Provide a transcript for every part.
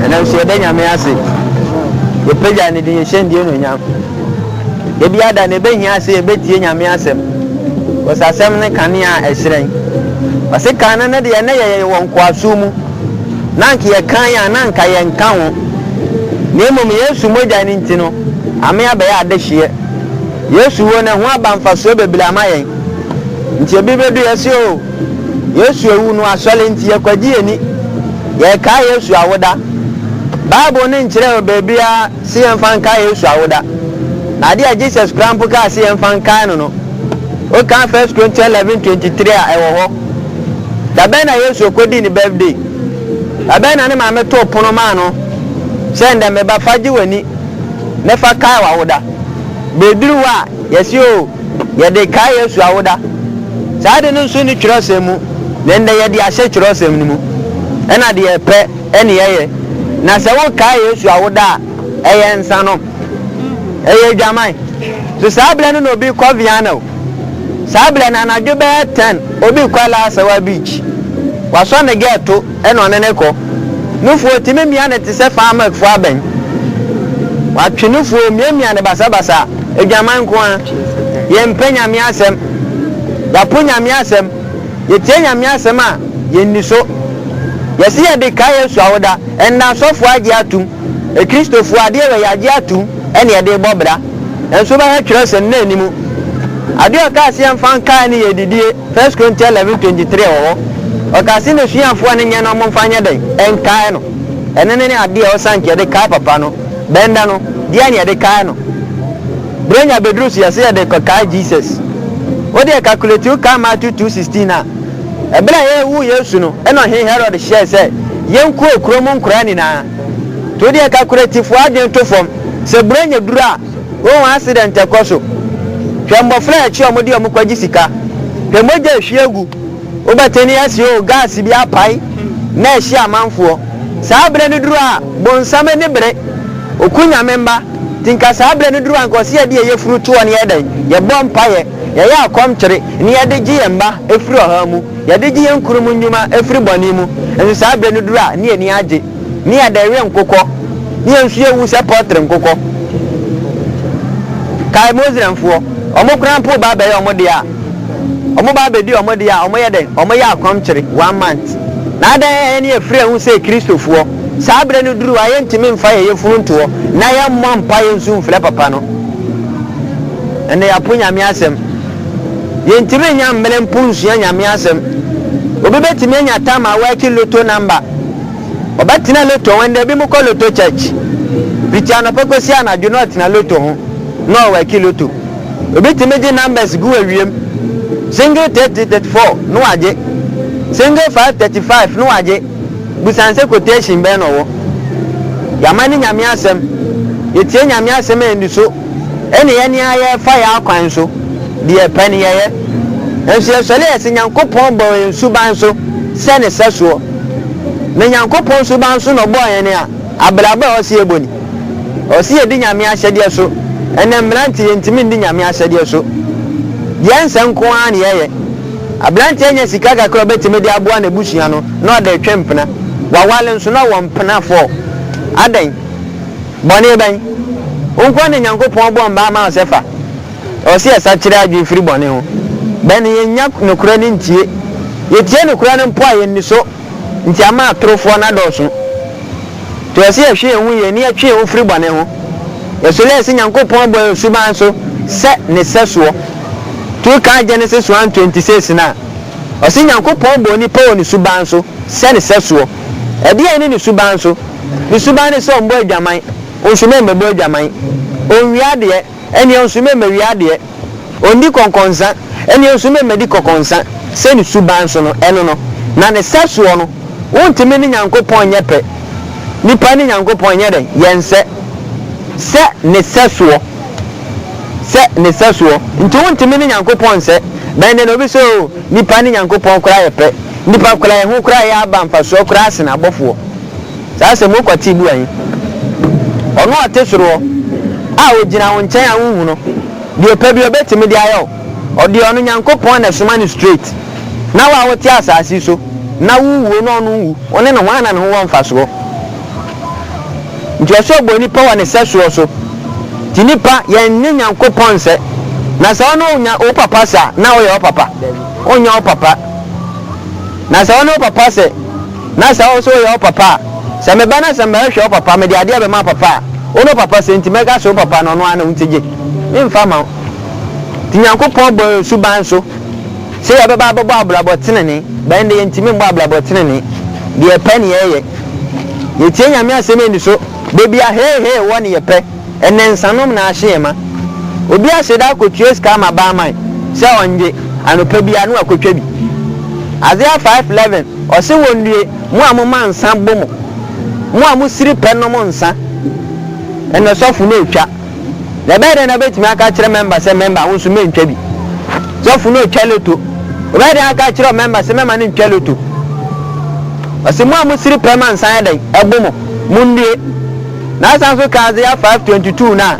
Ɛnam sɛ yɛda Nyame ase, yɛpagya ne din, yɛhyɛ ndie no nyam. Ebi ada na ɛbɛhia sɛ yɛbɛtie Nyame asɛm, wɔsɛ asɛm ne kanea a ɛhyerɛn. Wɔse kan no no deɛ na yɛyɛ wɔ nkoasom mu, na anka yɛkan a na anka yɛnka ho. Na mmom Yesu mogya no nti no, ame abɛyɛ adehyeɛ. Yesu wuo no ɛho aba mfasoɔ bebree ama yɛn. Nti ebi bɛdu yɛse o. Yesu awu no asɔre nti, yɛkwagye yɛn ani. Yɛrekae Yesu awoda. Bible no nkyerɛɛ baabiara sɛ yɛmfa nkae Yesu awoda. Na ade a Jesus koraa mpo kaa sɛ yɛmfa nkae no no, wokan First Corinthians eleven twenty three a, ɛwɔ hɔ. Da bɛn na Yesu kodii ne birthday? Da bɛn na ne maame too pono maa no sɛ, Ndɛ me ba, fa gye w'ani, na fa kae w'awoda? Bere duru hɔ a, Yɛse oo, yɛde kae Yesu awoda. Saa ade no nso nni twerɛsɛm mu, na ɛnnɛ yɛde ahyɛ twerɛsɛm no mu. Ɛna deɛ ɛpɛ ne yɛyɛ. Na sɛ wokae Yesu awoda a, ɛyɛ nsa nom. Ɛyɛ adwaman. So saa berɛ no na obi rekɔ Viana o, saa berɛ no anadwo bɛyɛ ten obi rekɔ Alasawa beach, wasɔ ne gɛɛto, na ɔne no rekɔ. Nufoɔ tumi mia no te sɛ famakfoɔ abɛn. Watwe nufoɔ miamia no basabasa. Adwaman nko ara. Yɛmpɛ Nyame asɛm. Yɛapo Nyame asɛm. Yɛtie Nyame asɛm a, yɛnni so. Yɛse yɛde kae Yesu awoda. Ɛnnɛ asɔfoɔ agye atom. Akristofoɔ adeɛ wei agye atom na yɛde rebɔ bra. Nanso wobɛhwɛ twerɛsɛm no anni mu. Adeɛ a ɔkaa se yɛmfa nkae no yɛ adidie. First Chronicle eleven twenty three wɔ hɔ. Ɔkaa se n'asuafoɔ a ne nyɛ no wɔmfa nyɛ dɛn? Nkae no. Ɛno ne ne adeɛ a ɔsan nka yɛde kae papa no. Bɛn da no, deɛn ne yɛde kae no? Berɛ nya bɛduru so yɛse yɛde rekɔkae Jesus. Wo deɛ calculate wo kae Matthew two sixteen a, ɛberɛ a yɛrewoo Yesu no na Ɔhene Herod hyɛɛ sɛ yɛnkuo kuro mu nkoraa nyinaa. Nti wo deɛ calculate fo adwene to fam. Sɛ berɛ nya duru a, Wohu accident ɛkɔ so. Hwɛ mmɔfra a akyi a wɔde wɔn kɔgye sika. Hwɛ mogya a ɛhwie gu. Wobɛte nne asi oo, gas bi apae na ɛhye amanfoɔ. Saa berɛ no duru a, bonsam ani bere. Ɔku Nyame mma. Nti nka saa berɛ no duru a, nka ɔse yɛde yɛn yafunu toɔ na yɛyɛ dɛn? Yɛbɔ mpaeɛ. Yɛyɛ akɔmkyere na yɛde gye yɛn mma firi ɔhaw mu. Yɛde gye yɛn kununom nnwuma firi bɔne mu. Nso saa berɛ no duru a, na yɛn ani agye. ne yɛ dɛreɛ nkokɔ, ne yɛn nso yɛwu sɛ pɔltre nkokɔ. Kae Muslimfoɔ, wɔn koraa mpo ba abɛyɛ wɔn deɛ a, wɔn ba abɛdi wɔn deɛ a, wɔyɛ dɛn? Wɔyɛ akɔmkyere, one month. Na adɛn a yɛn yɛfiri yɛn ho sɛ Kristofoɔ? Saa berɛ no duru a, yɛntumi mfa yɛn yafunu nto hɔ, na yɛmmɔ mpaeɛ nso mfrɛ Papa no. Ɛnna yɛapo Nyame asɛm. Yɛntumi nnya mmerɛ mpo nsua Nyame asɛm. Obi bɛtumi anya tam a wɔaki lotto number, Ɔbɛtena loto ho ndɛ. Binom kɔ loto church fitsi anɔpa kosi anadwo na ɔtsena loto ho na ɔwɛki loto. Obi tumi gye numbers gu w'ewiam. Single thirty, thirty four na ɔagye. Single five, thirty five na ɔagye. Bisa no sɛ quotation bɛn na ɔwɔ. Yɛama no Nyame asɛm. Yetsie Nyame asɛm a yɛndu so na yɛne ara yɛfa yɛn akwan so. Deɛ ɛpɛ no yɛyɛ. Nanso yɛsɔre a yɛse Nyankopɔn bɔɔ yɛn suban so sɛ ne sɛsoɔ. Na Nyankopɔn suban so na Ɔbɔɔ hɛn a, abrabɔ a ɔsɛ yɛbɔ ni. Ɔsɛ yɛdi Nyame ahyɛdeɛ so. Ndɛ mberantiɛ yɛnntumi nndi Nyame ahyɛdeɛ so. Deɛ nsɛ nko ara na yɛyɛ. Aberantiɛ nya sika kakra a ɔbɛtumi de aboa n'abusua no, na ɔde retwe mpena. Waware nso, na ɔwɔ mpena four. Adɛn? Bɔne bɛn? Wo nko ara na Nyankopɔn bɔɔ mmaa maa wo sɛ fa. Ɛwɔ sɛ yɛsakyera yɛadwene firi bɔne ho. Bɛn na yɛnnya nokorɛ no ntie? Yɛtie nokorɛ no mpo a, yɛnni so, nti ama atorofoɔ no adɔɔso. Nti ɛwɔ sɛ yɛhwe yɛn ho yie na yɛtwe yɛn ho firi bɔne ho. Yɛsɔre a yɛsɛ Nyankopɔn abɔ yɛn suban so sɛ Ne sɛsoɔ. Nti wokaa Genesis one twenty six no a, ɔse Nyankopɔn bɔɔ nnipa wɔ Ne suban so sɛ Ne sɛsoɔ. Ɛdeɛn ne Ne suban so? Ne suban ne sɛ ɔmmɔ adwaman, nso na ɛmmɛbɔ adwaman. Ɔnwia adeɛ. Ɛnneɛ nso me mma wia adeɛ. Ɔndi kɔnkɔnsa, ɛnneɛ nso me mma di kɔkɔnsa, sɛ ne suban so no, ɛno no. Na ne sɛsoɔ no, wontumi ne Nyankopɔn nyɛ pɛ. Nnipa ne Nyankopɔn nyɛ dɛn? Yɛnsɛ. Sɛ ne sɛsoɔ. Sɛ ne sɛsoɔ. Nti wontumi ne Nyankopɔn nsɛ. Bɛn dɛ na obi sɛ oo, nnipa ne Nyankopɔn koraa yɛ pɛ. Nnipa koraa, yɛn ho koraa yɛ aba mfasoɔ koraa sen abɔfoɔ. Saa asɛm wo kwati bua yi. Ɔno a ɔte soro hɔ a ogyina wo nkyɛn a wonhu no deɛ ɔpɛ bia ɔbɛtumi de ayɛ wo ɔdeɛ ɔno Nyankopɔn na ɛsoma no straight na wo a wote asaase so na wo wuo na ɔno nwu wo ne no hwan na ne ho wɔ mfasoɔ nti ɔsɛ ɔbɔ nnipa wɔ ne sɛsoɔ so nti nnipa yɛn ne Nyankopɔn nsɛ na sɛ ɔne onya wo papa sa na woyɛ wo papa onyɛ wo papa na sɛ ɔne wo papa sɛ na sɛ wo nso woyɛ wo papa a, sɛ meba na sɛ mɛhwɛ wo papa, mede adeɛ bɛma papa a, wo ne wo papa sɛ nti mɛka sɛ wo papa no, ɔno ara na wonti gye memfa mma wo. Nti Nyankopɔn bɔɔ yɛn suban nso sɛ yɛbɛba abɛbɔ abrabɔ tenenee, but ɛnde yɛntumi mbɔ abrabɔ tenenee, deɛ yɛpɛ ne yɛyɛ. Yɛtie Nyame asɛm yɛni so, da biara hee hee wɔ ne yɛpɛ. Ɛnɛ nsanom na ahye yɛn ma. Obi ahyɛ da akotua sika ama barman sɛ ɔngye, anɔpa biara no wakotwa bi. Isaiah five eleven, ɔse wonnue, mo a moma nsa bo mo, mo a mosiri pɛ nom nsa. Ɛnɛ sɔfo no retwa. Na ɛbɛyɛ dɛn na wobɛtumi aka akyerɛ mɛmba sɛ mɛmba wo nso mɛntwa bi? Sɔfo no retwa loto. Wobɛyɛ dɛn aka akyerɛ ɔmɛmba sɛ mɛma no ntwa loto? Ɔse mo a mosiri pɛ ma nsa yɛ dɛn? Ɛbo mo, monnue. Na asan so ka Isaiah five twenty two no a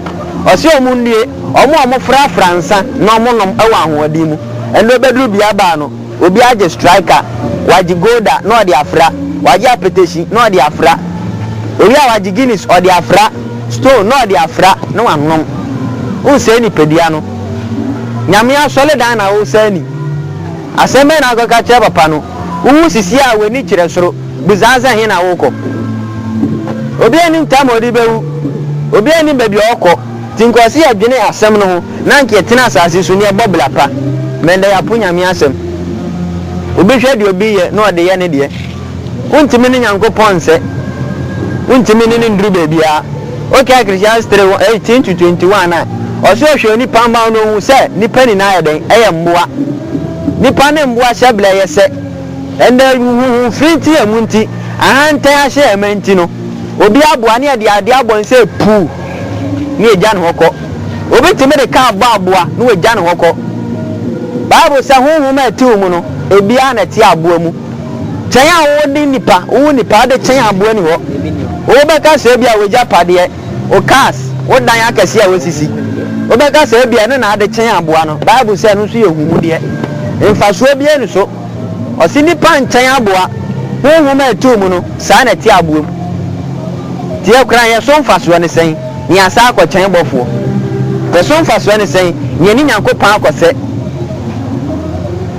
ɔse ɔmo nnie, ɔmo a ɔmo frafra nsa na ɔmo nom wɔ ahoɔden mu. Ɛnna obeduru bea baa no, obi agye striker, wagye golda na ɔde afra, wagye apetahyi na ɔde afra, owie a wagye Guinness ɔde afra, stone na ɔde afra na wanom. Wonsɛe nipadua no. Nyame asɔredan na wosɛe ni. Asɛm bɛn na akɔka akyerɛ papa no? Wuwu sisi a w'ani kyerɛ soro, bisa sɛ ɛhe na worekɔ. Obiara nnim tam a ɔde bewu, obiara nnim baabi a ɔrekɔ. Nti nka ɔse yɛdwene asɛm no ho na anka yɛtena asase so na yɛbɔ bra pa. Mmɛn da yɛapo Nyame asɛm. Obi hwɛ deɛ obi yɛ na ɔde yɛ ne deɛ. Wontumi ne Nyankopɔn nsɛ. Wontumi ne no nduru beebiara. Wokaa Ecclesiastes three one eighteen to twenty one a, ɔse ɔhwɛ onipa mma na ohun sɛ nnipa nyinaa yɛ dɛn? Yɛ mmoa. Nnipa ne mmoa hyɛbrɛ yɛ sɛ. Ɛnna huhuhufiri nti yɛ mu nti, ahantan ahyɛ yɛn ma nti no, obi aboa ne yɛde ade abɔ no sɛ puu na yɛagya ne hɔ kɔ. Obi tumi de kaa bɔ aboa na wagya ne hɔ kɔ. Bible sɛ honhom a ɛte wo mu no, ebiara na ɛte aboa mu. Kyɛn a wo ne nipa, wo wo nipa de kyɛn aboa ni hɔ. Wo bɛka sɛ ebia w'agyapadeɛ, wo cars, wo dan akɛseɛ a w'asisi. Wo bɛka sɛ ebia ɛno na ade kyɛn aboa no. Bible sɛ ɛno nso yɛ ahunmudeɛ. Mfasoɔ biara ni so. Ɔse nipa nkyɛn aboa. Honhom a ɛtoo mu no, saa na ɛte aboa mu. Nti ɛkran yɛ so mfasoɔ ne sɛn na yɛasan akɔ kyɛn bɔfoɔ? Yɛ so mfasoɔ ne sɛn na yɛne Nyankopɔn akɔ sɛ?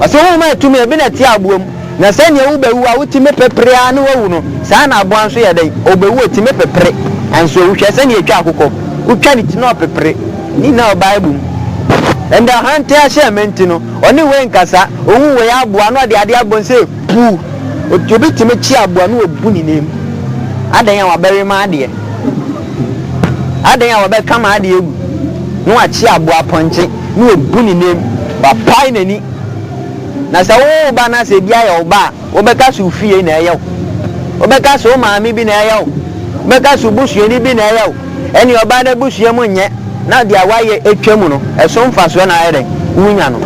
Ɔse honhom a ɛtum yɛ bi na ɛte aboa mu, na sɛdeɛ wobɛwu a wotumi pepere ara na wawu no, saa ara na aboa nso yɛ dɛn? Ɔbɛwu, ɔtumi pepere, nanso ɔwu. Hwɛ sɛdeɛ ɛtwa akokɔ, wotwa ne ti na ɔpepere. Ne nyinaa wɔ Bible mu. Ɛnde ɔhantan ahyɛmma nti no, ɔne wei nkasa. Ɔhu wei aboa na ɔde adeɛ abɔ no sɛ puu. Obi tumi kye aboa na ɔbu ne nan mu. Adɛn a wabɛwe m'adeɛ? Adɛn a wabɛka m'adeɛ agu na wakye aboa pɔnkye? na wabu ne nan mu, wapae n'ani. Na sɛ wo ba no asɛ bi ayɛ wo ba a, wobɛka sɛ wo fie na ɛyɛ wo, wobɛka sɛ wo maame bi na ɛyɛ wo, wobɛka sɛ wo busuani bi na ɛyɛ wo. Ɛnneɛ ɔbaa no abusua mu nyɛ na deɛ wayɛ atwa mu no, ɛso mfasoɔ na ayɛ dɛn? Wonya no.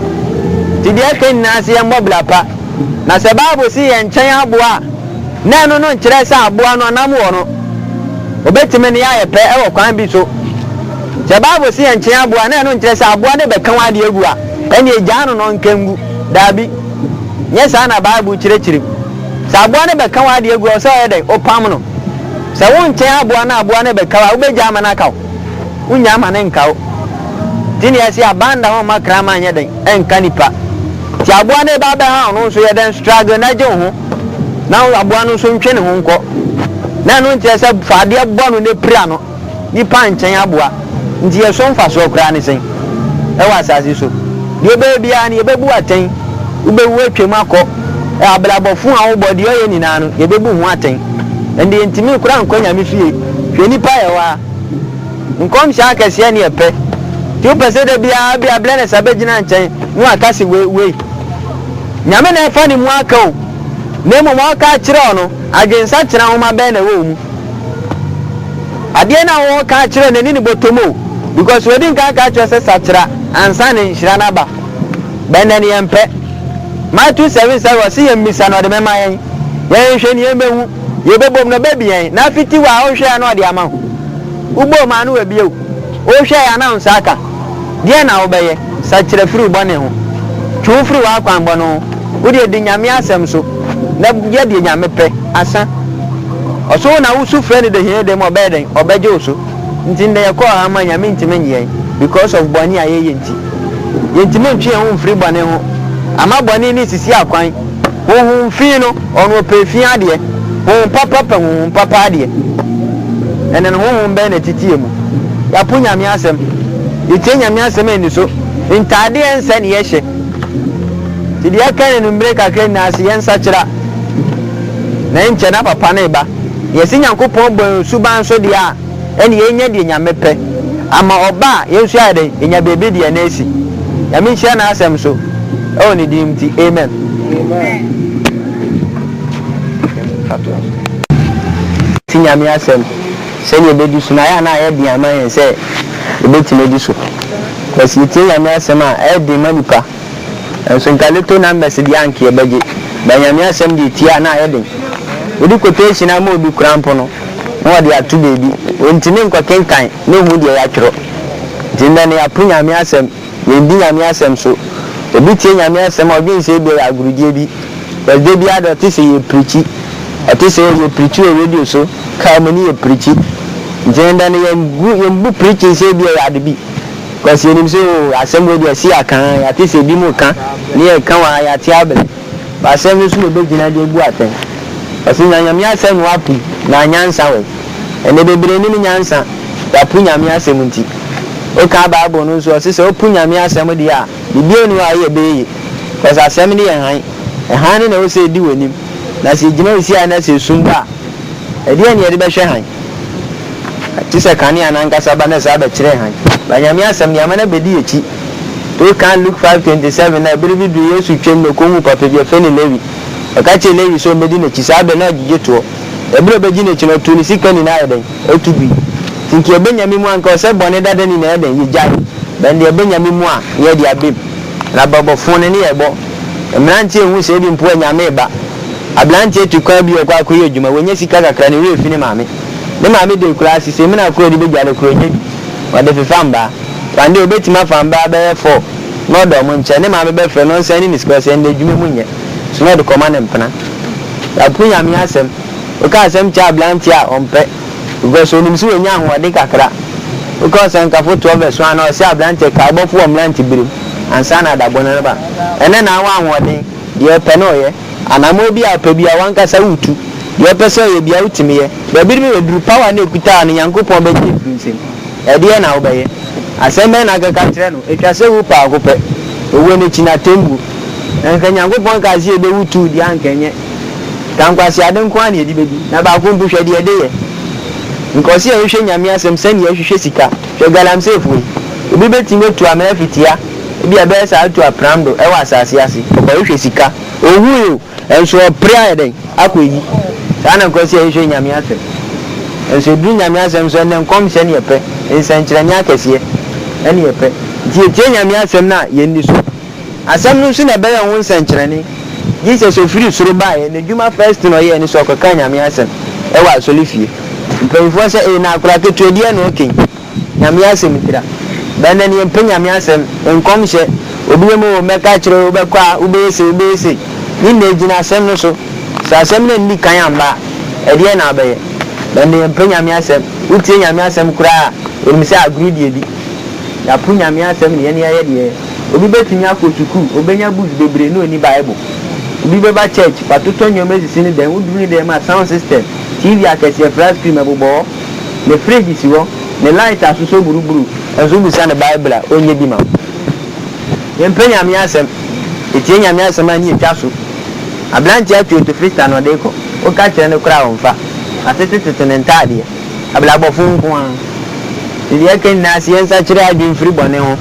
Nti deɛ ɛka nyinaa sɛ yɛmmɔ bra pa. Na sɛ Bible se yɛn nkyɛn aboa a, na ɛno no nkyerɛ sɛ aboa no ɔnam wɔ no. Ɔbɛtumi ne yɛayɛ pɛ wɔ kwan bi so. Sɛ Bible se yɛnkyen aboa a, na ɛno nkyerɛ sɛ aboa no bɛka w'ade agu a, ɛnneɛ gyaa no na ɔnka ngu. Dabi, nyɛ saa na Bible kyerɛkyerɛm. Sɛ aboa no bɛka w'ade agu a, ɛwɔ sɛ woyɛ dɛn? Wopam no. Sɛ wonkyen aboa na aboa no rebɛka wo a, wobɛgyaa ma no aka wo? Wonnya ma no nka wo. Nti na yɛse abanda ho mma kraman nyɛ dɛn? Ɛnka nipa. Nti aboa no reba abɛhaw no nso, yɛ dɛn? Struggle na gye wo ho, na aboa no nso ntwe ne ho nkɔ. Na ɛno nkyerɛ sɛ fa adeɛ bɔ no na pira no. nnipa nkyɛn aboa. Enti ɛso mfasoɔ koraa ne sɛn wɔ asase so? Deɛ wobɛyɛ biara no, yɛbɛbu atɛn. Wobɛwu atwam akɔ. Abrabɔ fo a wobɔ, deɛ ɔyɛ nyinaa no, yɛbɛbu ho atɛn. Ɛnde yɛntumi koraa nkɔ Nyame fie. Hwɛ nnipa yɛ hɔ ara. Nkɔmhyɛ akɛseɛ ne yɛpɛ. Nti wopɛ sɛ da biara bi a Blenesa bɛgyina nkyɛn na waka se wei, wei. Nyame na ɛfa ne mu aka o. Na mmom ɔreka akyerɛ wo no, adwensakyera nwoma bɛn na ɛwɔ wo mu? Adeɛ na wo ka akyerɛ no ɛne ne bɔtɔm o because wadi nka aka akyerɛ sɛ sakyera ansa na nhyira no aba bɛ nɛ no yɛn pɛ my two seven sɛ wɔ se yɛn misa na ɔde mɛ ma yɛn yɛn nhwɛ ni yɛn bɛ hu yɛ bɛ bom na ɔbɛ bi yɛn na afiti wa a ɔnhwɛ ya na ɔde ama ho wo bom a na wabie wo wo hwɛ ya na wo nsa aka Deɛn na wobɛyɛ? Sakyera firi wo bɔne ho. Twe wo firi w'akwammɔne ho. Wo deɛ, di Nyame asɛm so, na yɛ deɛ Nyame pɛ. Asa. Ɔso wo na wo su frɛ no dehene dehene mu a, ɔbɛyɛ dɛn? Ɔbɛgye wo so. Nti nnɛ yɛkɔ ɔhaw mu a, Nyame ntumi nnye yɛn because of bɔne a yɛyɛ nti. Yɛntumi ntwe yɛn ho mfiri bɔne ho. Ama bɔne no nsisi akwan. Honhom fi no ɔno ɔpɛ fi adeɛ Honhom papa pɛ honhom papa adeɛ Ɛnɛ no honhom bɛn na ɛtete yɛn mu Yɛapo Nyame asɛm Yɛtie Nyame asɛm aniso Ntaadeɛ ɛnsɛ ne yɛhyɛ Nti deɛ ɛka yɛn mmerɛ kakra nyinaa se yɛnsakyera Na ɛnkyɛ na papa no reba Yɛse Nyankopɔn bɔ yɛn suban so deɛ a ɛne yɛnya deɛ Nyame pɛ ama ɔba a yɛn nso yɛayɛ dɛn yɛnya baabi de yɛn asi Nyame nhyira n'asɛm so ɛwɔ ne din nti amen. Ti Nyame asɛm sɛdeɛ ɛbɛdi so no ayɛ a na ayɛ den ama yɛn sɛ yɛbɛtumi adi so but yɛtie Nyame asɛm a ɛyɛ den ma nipa. Nso nka little numbers deɛ anka yɛbɛgye but Nyame asɛm deɛ tie a na ayɛ den. Wode quotation ama obi koraa mpo no na ɔde ato baabi, ɔntumi nkɔ kenkan na ɔhu deɛ yɛatwerɛ. Nti nnɛ no yɛapo Nyame asɛm, yɛndi Nyame asɛm so. Obi tie Nyame asɛm a ɔdwene sɛ ebia ɛyɛ agorudie bi cause da biara deɛ ɔte sɛ yɛ preachi, ɔte sɛ oh yɛ preachi wɔ radio so, car mu ne yɛ preachi. Nti nnɛ no yɛnbu preaching sɛ ebia ɛyɛ ade bi. Kwasi, Yɛnim sɛ oo, asɛm wei deɛ ɛse aka aa, yɛate sɛ ebi mo ka, ne yɛka wɔ ha, yɛate abrɛ, but asɛm no so na obegyina de abu atɛn. Ɔse na Nyame asɛm no apu, na anyansa wɔ mu. Ɛnɛ bebree nnim nyansa, yɛapo Nyame asɛm nti. Woka Bible no nso, ɔse sɛ wopo Nyame asɛm deɛ a, biribiara nni hɔ a woyɛ ɛbɛyɛ yie, cause asɛm no yɛ hann, hann no na ɛwɔ sɛ ɛdi w'anim, na sɛ egyina wo siayɛ na sɛ esum ba a, Ɛdeɛn na yɛde bɛhwɛ hann? Te sɛ kanea no ankasa ba na saa bɛkyerɛ hann. Ba Nyame asɛm deɛ ama no abɛdi akyi. To kan Luke five twenty seven na ɛbere bi duru Yesu twam na ɔkɔhuu papa bi a yɛfrɛ no Lewi. Ɔka kyerɛɛ Lewi sɛ ɔmmɛdi n'akyi. Saa berɛ no na ɔgyegye toɔ. Ɛberɛ a ɔbɛgye n'akyi no ɔtoo ne sika nyinaa yɛ dɛn? Ɔtu gui. Nti nka ɛbɛ Nyame mu a nka ɔsɛ bɔne dada nyinaa yɛ dɛn? Yɛgyae. Bɛn deɛ ɛbɛ Nyame mu a na yɛde abɛ mu. Na bɛbɔ fone ne yɛbɔ. Mmeranteɛ nhu sɛ ebi mpo a Nyame reba. Aberanteɛ tu kwan bi rekɔ akɔyɛ adwuma, wanya sika kakra, ne werɛ fi ne maame. Ne maame de akura ase, sɛ emina koro a ɔde bɛgya no koraa, ɔnya bi. Ɔde fefa mbaa. One day, ɔbɛtumi afa mbaa bɛyɛ four na ɔde wɔn nkyɛ. Ne maame bɛfrɛ no, ɔnsan ne ne sika, ɔsɛ, Ɛnnɛ adwuma mu nyɛ. So na ɔde kɔma ne mpena? Yɛapo Nyame asɛm. Woka asɛm kyerɛ aberanteɛ a, ɔmpɛ. Because ɔnim sɛ wanya ahoɔden kakra. Woka Ɔsɛnkafo toɔ vs. One a, ɔse aberanteɛ, kae bɔfo wɔ mmeranteberem, ansa na adabɔne no ba. Ɛnnɛ na wowɔ ahoɔden. Deɛ ɔpɛ na ɔyɛ. Anammɔn biara a ɔpɛ biara, w'ankasa woretu. Deɛ ɔpɛ sɛ ɔyɛ biara, wotumi yɛ. Baabi no bɛyɛ duru. Power no a ekuta no, Nyankopɔn bɛgye afiri wo nsam. Ɛdeɛn na wobɛyɛ? Asɛm bɛn na akeka akyerɛ no? Etwa sɛ wu paako pɛ. Owuo no akyi no, atɛmmuo. Anka Nyankopɔn kaa sɛ yɛbɛwu too deɛ a anka ɛnyɛ. Ka nkwaseade nko ara na yɛde bɛdi. Na baako mpo, hwɛ deɛ ɛde yɛ. Nka ɔse yɛhwehwɛ Nyame asɛm sɛdeɛ yɛhwehwɛ sika. Hwɛ galamseefoɔ yi. Obi bɛtumi atu amena fitia. Ebia ɛbɛyɛ sɛ atu apram do wɔ asase ase, ɔkɔhwehwɛ sika, ohui o, nso ɔpere ayɛ dɛn? Akɔ ayi. Saa na nkurɔfo sɛ yɛhwehwɛ Nyame asɛm. Nso eduru Nyame asɛm so ɛnnɛ nkɔmhyɛ ne yɛpɛ, nsɛnkyerɛnne akɛseɛ ɛne yɛpɛ. Nti yɛtie Nyame asɛm no a yɛnni so. Asɛm no nso na ɛbɛyɛ ho nsɛnkyerɛnne. Jesus ɔfiri soro baeɛ, n'adwuma first na ɔyɛɛ ne sɛ ɔkɔkaa Nyame asɛm wɔ asɔrefie. Mpanyinfoɔ sɛ ee na akwadaa ketewa biara na ɔka yi. Nyame asɛm tira. Bɛ nɛ neɛ mpɛ Nyame asɛm, nkɔmhyɛ, obi bɛma oo mɛka akyerɛ oo wobɛkɔ a wobɛyɛ sei wobɛyɛ sei ne nyinaa gyina asɛm no so sɛ asɛm no anni kan amma a ɛdeɛn na wobɛyɛ? Bɛ nɛ yɛmpɛ Nyame asɛm, wotie Nyame asɛm koraa a wonim sɛ agorɔ di adi. Yɛapo Nyame asɛm ne yɛn yɛyɛ deɛ yɛyɛ. Obi bɛtumi akɔ sukuu, ɔbɛnya books bebree na ɔnni Bible. Obi bɛba church, watotɔ nneɛma asisi ne dan, woduru ne dan mu a sound system, TV akɛseɛ, flat screen ɛbobɔ hɔ. Ne fridge si hɔ, ne light asosɔ buruburu nso wobisa no bible a ɔnyɛ bi ma wo. Yɛmpɛ Nyame asɛm, yɛtie Nyame asɛm a ne yɛtwa so. Aberanteɛ atu ɔtu frista na ɔde rekɔ, woka kyerɛ no koraa a ɔmfa, atetetoto ne ntaadeɛ. Abrabɔfo nko ara. Nti deɛ yɛka nyinaa sɛ yɛnsakyera yɛn adwene mfiri bɔne ho,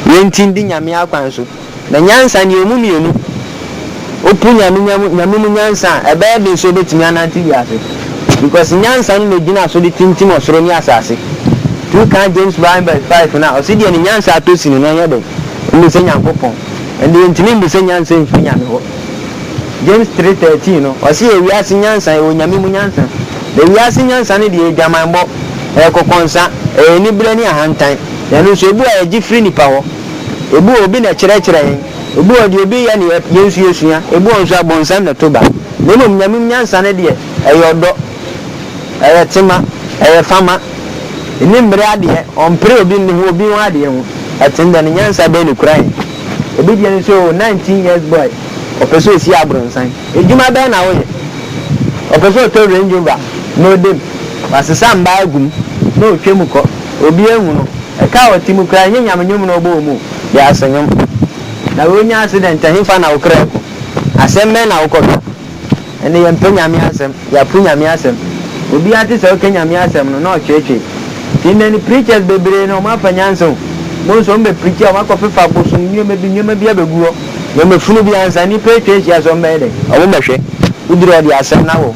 yɛnti ndi Nyame akwan so. Na nyansa ne emu mmienu. Wopo Nyame nyam Nyame mu nyansa a, ɛbɛyɛ den sɛ wobɛtumi anante wiase. Because nyansa no na ɛgyina so de tintim ɔsoro ne asase. Two kan James one verse five no a, ɔse deɛ ne nyansa atɔ sini no ɔnyɛ dɛn? Ɔmmu sɛ Nyankopɔn. Ɛnde yɛntumi mmu sɛ nyansa mfiri Nyame hɔ. James three thirteen no, ɔse yɛ wiase nyansa, yɛwɔ Nyame mu nyansa. Na wiase nyansa no deɛ ɛyɛ dwamanbɔ, ɛyɛ kɔkɔnsa, ɛyɛ aniberɛ ne ahantan. Na ɛno nso, ebu a yɛgye firi nnipa hɔ. Ebi wɔ hɔ obi na ɛkyerɛkyerɛ yɛn, ebi wɔ hɔ deɛ obi yɛ na yɛn nso yɛsua, ebi wɔ hɔ nso abɔnsam na ɛto ba. Na mmom Nyame mu nyansa no deɛ, ɛyɛ ɔdɔ, ɛyɛ tema, ɛyɛ fama, ɛnni mmere adeɛ, ɔmpere obi nni ho obi ho adeɛ ho. Ɛte dɛn? Ne nyansa bɛn na ɛkura yɛn? Ebi deɛ no sɛ oo, nineteen years boy, ɔpɛ sɛ ɔsi abrɔnsan, adwuma bɛn na woyɛ? Ɔpɛ sɛ ɔtɔ Range Rover na ɔda mu, wasesa mmaa agu mu na ɔretwa mu kɔ. Obi anwu no, ɛka a ɔte mu koraa nyɛ Nyame nnwom na ɔbɔ wɔ mu o, wiase nnwom. Na wonya accident a, henfa na wo kra kɔ? Asɛm bɛn na wokɔka? Ɛnde yɛmpɛ Nyame asɛm, yɛapo Nyame asɛm. Obiara te sɛ ɔka Nyame asɛm no, na ɔtweetwee. Nti ndɛ no preachers bebree no, ɔmo afa nyansa o. Bohu sɛ ɔmo bɛ preach a, ɔmo akɔ fefa abosom nneɛma bi, nneɛma bi abɛgu hɔ. Nea ɔmo funu bi ansa nnipa atwa ahyia so a, ɔmo bɛyɛ dɛn? Ɔmo bɛhwɛ. Woduru hɔ deɛ asɛm no awɔ wo.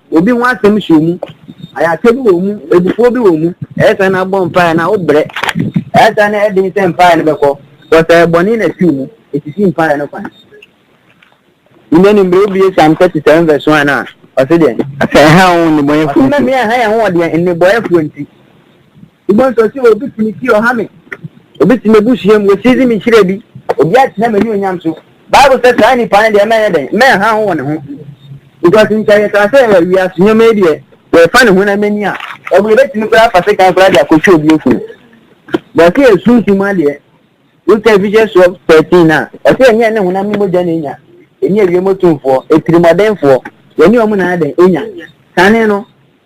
Obi ho asɛm hyɛ mu, ayarsa bi wɔ mu, ebufuo bi wɔ mu, ɛyɛ saa na abɔ mpaeɛ na wobrɛ. Ɛyɛ saa na ɛden sɛ mpaeɛ no bɛkɔ, because ɛyɛ bɔne na ɛfiri mu, ɛsisi mpaeɛ no kwan. Nnɛ no mmerɛ wobie Psalm 37 verse 1 a, ɔse deɛn? Sɛ ɛha wo nnebɔneyɛfoɔ nti. Ɔse na mmea ɛha yɛn ho wɔ deɛn? Nnebɔyɛfoɔ nti. Bibɔ nsɔsi wɔ obi tumi ti ɔha me. Obi te m'abusua mu, wɔasiizi me nhyira bi. Obi atena m'anuonyam so. Bible sɛ saa nipa no deɛ mɛyɛ dɛn? Mɛnha ho wɔ ne ho. Because nkyɛ yɛkaa sɛ wiase nneɛma yi deɛ wɔrefa ne honam ani a, ɛwɔ yɛbɛtumi koraa afa sekan koraa de akɔtwe obi afunu. But sɛ yɛ sunsun mu adeɛ, wotwa Ephesians 12 13 a, ɛsɛ yɛne yɛne honam ne mogya na ɛnya, ɛne awiem otumfoɔ, atirimɔdenfoɔ, yɛne wɔn na adɛn ɛnya. Kane no,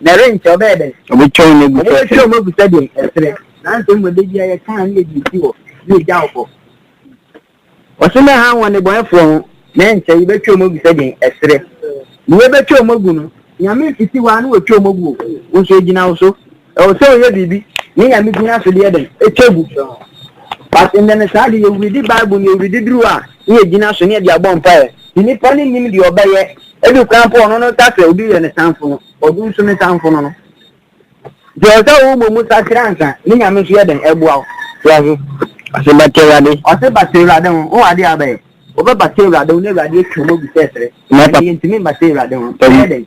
Na ɛrenkyɛ ɔbɛyɛ dɛn? Ɔbɛtwa wɔn agu sɛ serɛ. Ɔbɛtwa wɔn agu sɛ deɛ ɛserɛ. Nanso mmom da biara yɛkaa ne yɛde si hɔ na yɛgya wo hɔ. Ɔse na ɛha wɔn nnebɔnɛfoɔ ho, na ɛrenkyɛ yɛbɛtwa wɔn agu sɛ deɛ ɛserɛ. Deɛ yɛbɛtwa wɔn agu no, Nyame mfiti hɔ a na wɔatwa wɔn agu o, wo nso ɛgyina wo so. Ɛwɔ sɛ woyɛ biribi na Nyame gyina so de yɛ dɛn? Ɛtwa gu. But ndɛ no saa de, yɛwuridi Bible no, yɛwuridi duru a, ne yɛgyina so ne yɛde abɔ mpaeɛ. Sɛ nipa no nnim deɛ ɔbɛyɛ, ebi koraa mpo ɔno no sa sɛ obi yɛ ne samfo no, ɔno nso ne samfo no no. Nti ɛwɔ sɛ wobɔ mu sakyera ansa ne Nyame nso yɛ dɛn ɛboa wo. So ate? Ɔse bata Awurade. Ɔse bata Awurade ho, wo adeɛ a wobɛyɛ. Wobɛbata Awurade ho na Awurade atwa mu agu sɛ ɛserɛ. Na ɛyɛ ntumi mbata Awurade ho, bɛyɛ dɛn?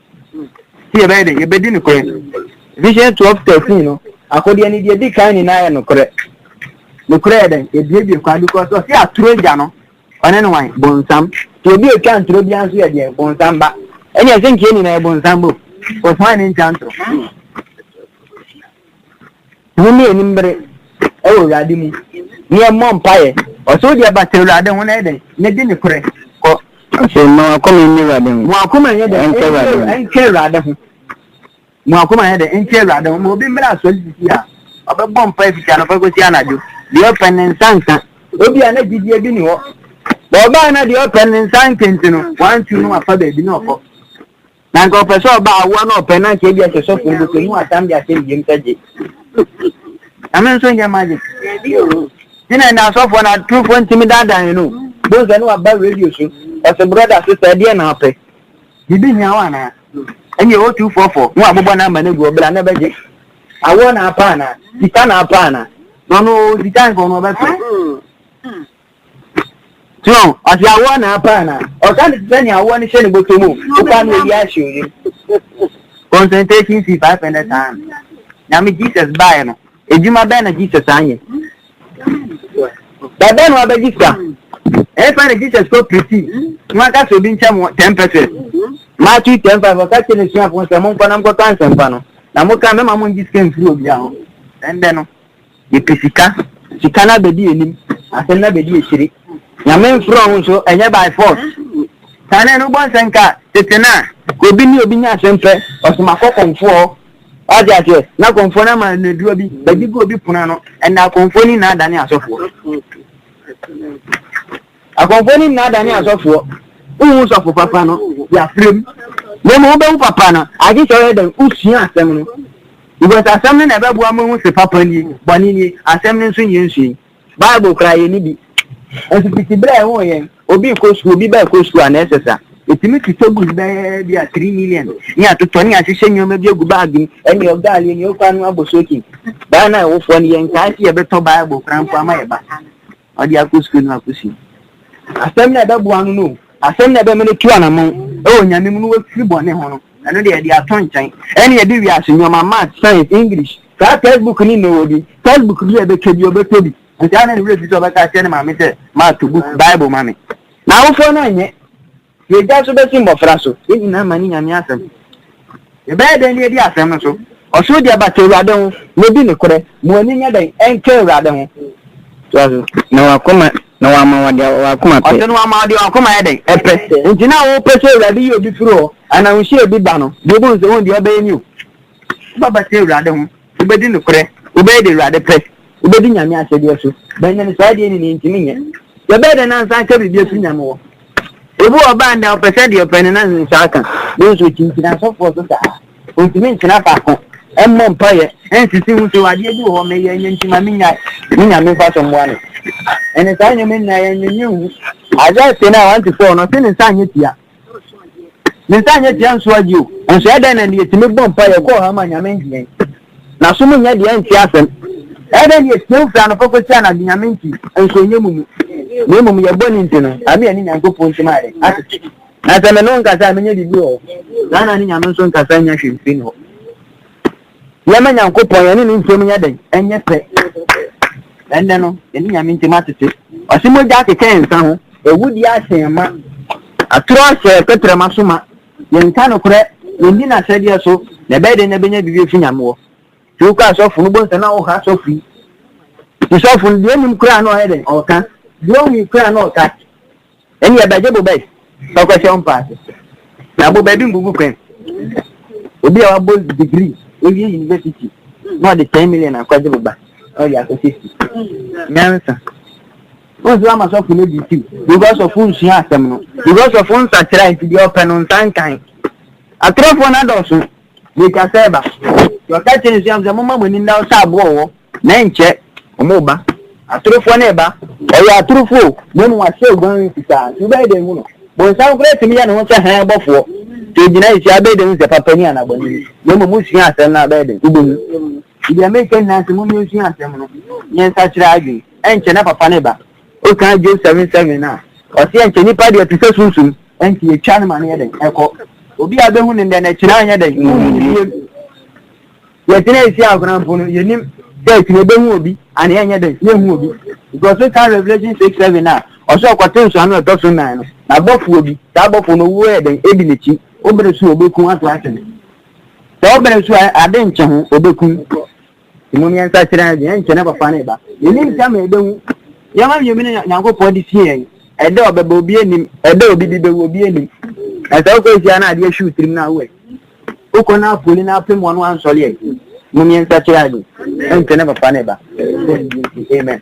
Sɛ yɛbɛyɛ dɛ, yɛbɛdi nokorɛ. Vision 12 13 no, Akodeɛ no deɛ ɛdi kan nyinaa yɛ nokorɛ. Nokorɛ yɛ dɛn? Yɛbuebue kwan because ɔse atoro agya no, ɔne ne wan? Bonsam. Nti obi a ɔtwa ntoro biara nso yɛ deɛ? Bonsam ba. Ɛne ɛsɛ nkeɛ nyinaa yɛ bonsam ba o, because wan ne ntwa ntoro? Monni anim bere wɔ Awurade mu, ne ɛmmɔ mpaeɛ. Ɔsɛ wode ɛba sɛ Awurade ho na yɛ dɛn na di ne korɛ kɔ. Ɔsɛ mma w'akoma nni Awurade ho. Mo akoma nyɛ dɛn nka Awurade ho. Nka Awurade ho. Mo akoma nyɛ dɛn nka Awurade ho. Ma obi mmra asɔre sisi a, ɔbɛbɔ mpaeɛ fiti anɔpa kɔsi anadwo. Deɛ ɔpɛ ne nsa nka. Obi a na gyidie bi nni hɔ. Ɔbaa na deɛ ɔpɛ ne nsa nka nti no, wɔantu no amfa baabi na ɔkɔ. Na nka ɔpɛ sɛ ɔba awoa na ɔpɛ na nka ebi ɛsɛ sɔfo no bɛsɛ mu asam de ahyɛ ne yam sɛ gye. Nyame nso nyɛ magic. Ti na ɛnna asɔfoɔ na aturufoɔ ntumi daadaa yɛn o. Bohu sɛ ne waba radio so ɔsɛ brɔda sista ɛdeɛ na ɔpɛ. Biribi hia wo anaa? Ɛne ɛwɔ tu fɔfɔ ne wabobɔ namba no agu hɔ bra na bɛgye. Awoɔ na apɛ anaa? Sika na apɛ anaa? Na ɔno ɔwɔ sika nka ɔno ɔbɛpɛ. Twerɛ ho, Ɔde awoɔ na apa anaa? Ɔka no te sɛ nea awoɔ no hyɛ ne bɔtɔ mu, wopa no awie ahyɛ oyam. Concentration fee five hundred saa no. Nyame Jesus baeɛ no, adwuma bɛn na Jesus anyɛ? Bɛbɛ no abɛgye sika. Ɛfa na Jesus kɔ piriti na aka sɛ obi nkyɛ mo ten pɛsɛs. Matthew ten five ɔka kyerɛ n'asuafoɔ sɛ monkɔ na monkɔka nsɛmpa no na moka mɛma mongye sika mfiri obiara hɔ. Ɛndɛ no, Yɛpɛ sika, sika no abɛdi anim, asɛm no abɛdi akyire. Nyame mfrɛ wo nso, ɛnyɛ by force. Kane no wobɔ nsɛnka a, tete no a, obi ne obi nya asɛm pɛ, ɔsoma kɔ kɔmfoɔ hɔ. Wate aseɛ? Na kɔmfoɔ no ama no aduro bi, bɛgye gu obi pono ano. Ɛnna kɔmfoɔ no nyinaa dane asɔfoɔ. Akɔmfoɔ no nyinaa dane asɔfoɔ. Wohu sɔfo papa no de afrɛ mu, na mmom wobɛhu papa no agye sɛ ɔyɛ dɛn wosua asɛm no. Because asɛm no na ɛbɛboa ma ahu sɛ papa nie, bɔne nie, asɛm no nso nyɛ nsua yi. Bible koraa yɛnni bi. Nso tete berɛ a ɛho yɛn, obi rekɔ sukuu, obi ba rekɔ sukuu a, na ɛsɛ sa. Ɛtumi totɔ bus bɛyɛ bi a three million ne atotɔ ne ahyehyɛ nneɛma bi agu baage mu ɛne ɔgaale ɛne ɔkwa no abɔ soaking. Baa na ɛwofoɔ no yɛnkae sɛ yɛbɛtɔ Bible koraa mpo ama yɛba. Ɔde akɔ sukuu no akɔsua asɛm na ɛbɛboa no no asɛm na ɛbɛma no tu anamɔn ɛwɔ onyame mu no wafiri bɔne ho no ɛno deɛ ɛde ato nkyɛn ɛne ɛde wiase nneɛma math science english saa textbook ne na ɔwɔ bi textbook bi a ɛbɛtwa bi ɔbɛtɔ bi nti ana ne werɛ fi sɛ ɔbɛka akyerɛ ne maame sɛ mato book bible ma me na awofoɔ no anyɛ Yɛagya nso bɛsi mmɔfra so. Yɛn nyinaa ma ne Nyame asɛm. Yɛbɛyɛ dɛn de adi asɛm no so? Ɔsoro deɛ bata Awurade ho. Na di nokorɛ. Ma w'ani nyɛ dɛn nka Awurade ho. Toa so. Na w'akoma, na wama wo deɛ w'akoma pɛ. Ɔse na wama wo deɛ w'akoma yɛ dɛn? Ɛpɛ. Enti na wopɛ sɛ Awurade yi obi firi hɔ, anaa wohyia obi da no, deɛ wobɛhu sɛ wɔn deɛ ɔbɛyɛ ni o. Wobɛbata Awurade ho, wobɛdi nokorɛ, wobɛyɛ deɛ Awurade pɛ, wobɛdi Nyame ahyɛdeɛ so, bɛnyane saa deɛ nyini ntimi nyɛ. Yɛbɛyɛ dɛn nansa aka biribi afiri Nyame hɔ? Obi wɔ ɔbaa ndɛ ɔpɛ sɛ deɛ ɔpɛ no na nsa aka, nanso ɔkyinkyini asɔfoɔ so saa, ɔntimi ntena faako, mmɔ mpaeɛ, nsisi ho sɛ adeɛ bi wɔ hɔ meyɛ nyɛ nti ma mennyae, ne Nyame mfa so mmoa no. Ɛne saa nneɛma nyinaa yɛnnwennwen ho. Isaiah 10 a 1-4 no, ɔse ne nsa anyɛ tia. Ne nsa nyɛ tia nso agye o. Nso ɛdɛn na ne yɛtumi bɔ mpa yɛ kɔɔ ha ma nyame nti yɛn. Na so mo nyɛ deɛ nte asɛm. Ɛdɛn ne yɛtia wo firi anɔpa kɔsi anadwo nyame nti nso nyɛ mu mu. Na mmom yɛ bɔ ne nti no ame yɛne nyankopɔn ntim ayɛ dɛn atete. Na sɛ me ne wo nkasa a menyɛ biribi wɔ hɔ. Saa na ne nyame nso nkasa nyɛ hwee mfiri ne hɔ. Yɛmma Nyankopɔn yɛne ne ntam nyɛ dɛn? Ɛnyɛ pɛ. Ɛnnɛ no, yɛne Nyame ntam atete. Ɔse mogya akeka nsa ho. Awudie ahyɛn ma. Atoro ahyɛ tɛtrɛma so ma. Yɛnka nokorɛ, yɛndi n'ahyɛdeɛ so, na ɛbɛyɛ dɛn na yɛbɛnya biribi afiri Nyame hɔ? Nti wokɔ asɔfo no, wobɛhu sɛ na woha sɔfo yi. Nti sɔfo no, deɛ ɔnim koraa na ɔyɛ dɛn? Ɔka. Deɛ ɔwui koraa na ɔka. Ɛnni ɛbɛgye boba yi sɛ ɔkɔhyɛ ɔmpa ase. Na boba bi mbubu kwan. Obi a wabɔ degree, wawie university, na ɔde ten million akɔgye boba, na ɔde akɔhyɛ si. Nyansa. Wọ́n sọ ama sọfún ní bìtì because of nsúnyà asẹm no because of nsakyera nti deɛ ɔpɛ no nsa nkan. Atorofoɔ no adɔɔso. Meka sɛ ba. Nti ɔka kyerɛ n'asuafo sɛ, Momma mo ani nna wo sɛ aboɔ wɔ hɔ, na ɛnkyɛ wɔreba. Atorofoɔ no reba. Wɔyɛ atorofoɔ o, na mmom wɔahyɛ oguan fitaa. Nti wobɛyɛ dɛn ahu no? Bonsam koraa tumi yɛ ne ho sɛ hann bɔfoɔ. Sɛ ogyina akyiri a, wobɛyɛ dɛn ahu sɛ papa ni anaa bɔne ni? Na mmom wosua asɛm no a, wobɛyɛ dɛn? Wobɛhu. Nti deɛ mereka nyinaa ne sɛ, mommra nsua asɛm no, na yɛnsakyera yɛn adwene. Ɛnkyɛ na papa no reba. Wokan Job seven seven a, ɔse ɛnkyɛ nipa deɛ te sɛ sunsum, ɛnti yɛtwa no ma no yɛ dɛn? Ɛkɔ. Obi a bɛhu no ndɛ no akyire anyɛ dɛn? Wonhu no biem. Yɛtena Asia akora mpo no, yɛnim sɛ akyire yɛbɛhu obi anaa yɛnyɛ dɛn? Yɛnhu obi. Because wokan Revelation six seven a, ɔse ɔkɔte nsɔano a ɛtɔ so nnan no, na abɔfoɔ bi, saa abɔfoɔ no owuo yɛ dɛn? Edi n'akyi. Wobere so a, obekum ato akyene. Sɛ wobere so a, ade nkye ho, obekum. Mmom yɛn nsakyeraɛ deɛ, ɛnkyɛ na ɛbɛfa ne ba. Yɛnnim sɛ ama yɛbɛhu. Nneɛma mmienu na Nyankopɔn de sie yɛn. Ɛda a ɔbɛba, obi nnim. Ɛda a obi de bɛwu, obi nnim. Na sɛ wokɔ ahyia na adeɛ hye wo tirim no a, wo ɛ? Wokɔ na apoli na apem wɔn ansɔre ɛ? Mmom yɛn nsakyeraɛ deɛ, ɛnkyɛ na ɛbɛfa ne ba. Amen. Amen.